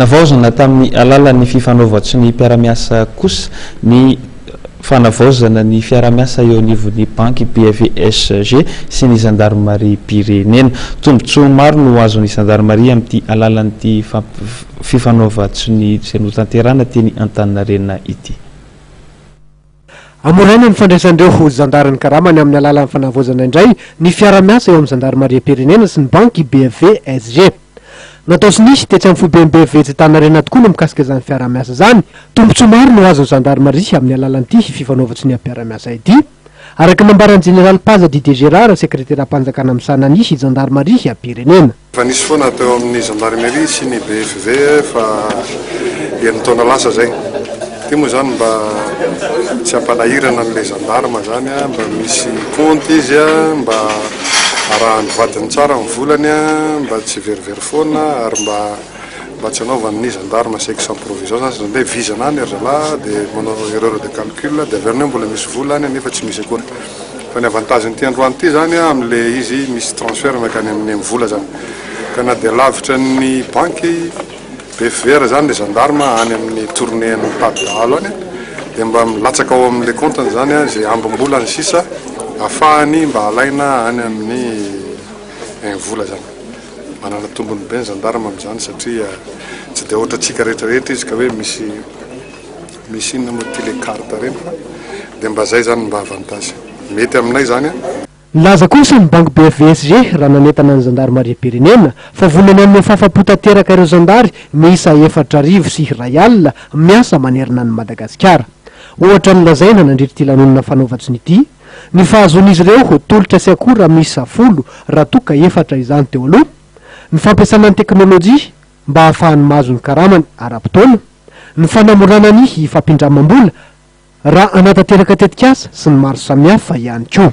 Navaozina tamin'ny alalan'ny fifanaovan-tso ny mpiara-miasa kosa ny fanavaozana ny fiarahamiasa eo anivon'ny banky BFVSG sy ny zandarimariam-pirenena. Tombontsoa maro no azon'ny zandarimaria amin'ity alalan'ity fifanaovan-tso izay notanterahina teny Antaninarenina ity. Hamoraina ny fandraisan'ireo ho zandary ny karama ny amin'ny alalan'ny fanavaozana indray ny fiara-miasa eo amin'ny zandarimariam-pirenena sy ny banky BFV SG. Natao sy nisy tetsy amin'ny foiben'ny BFV etsy Antaninarenina tokoa ny mikasika izany fiaraha-miasa izany. Tombontsoa maro no azon'ny zandarimaria amin'ny alalan'ity fifanaovan-tsoniam-piara-miasa ity, araka ny nambaran'ny jeneraly Paza Didier Gérard, sekreteram-panjakana misahana ny zandarimaria-pirenena. Efa nisy foana teo amin'ny Gendarmerie sy ny BFV fa enin-taona lasa izay. Ity moa izany mba tsy hampanahirana an'ilay gendarme izany a, mba misy compte izy a, mba arahan'ny vadiny tsara ny volany a, mba tsy verivery foana ary mba mba tsy anaovany ny gendarme chèque sans provision izany, izany hoe vizana any ry zalahy dia manao erreur de calcul dia avy eo ny hoe mbola misy vola any nefa tsy misy akory. Fa ny avantage n'ity androany ity zany a am le izy misy transfert makany am ny mvola zany ka na dia lavitra ny banky bfvr zany le gendarme any am ny tournée any mitady dahalo any dia mba milatsaka ao am le compte ny zany a ze ambim bola ny sisa afahany mba alaina any am ny mvola zany. Manana tombony be ny gendarme am zany satria tsy dia otrantsika rehetra rehetra izy ka hoe misy Misy inona moa ty le carte ireny fa dia mba zay zany mba avantage mety aminay zany a. Nilaza kosa ny banky BFVSG raha nanentana ny zandarimariam-pirenena fa vonona hanome fahafapo tanteraka ireo zandary miisa efatra arivo sy iray alina miasa manerana an'i Madagasikara. Ohatra nolazaina nandritra ity lanonana fanaovan-tsony ity ny fahazoan'izy ireo tolotra sy akora miisa folo raha toa ka efatra izany teo aloha, ny fampiasana ny teknolojia, mba hahafahany mahazo ny karamany ara-potoana, ny fanamorana ny fampindramam-bola raha hanatanteraka tetikasa sy ny maro samihafa ihany koa.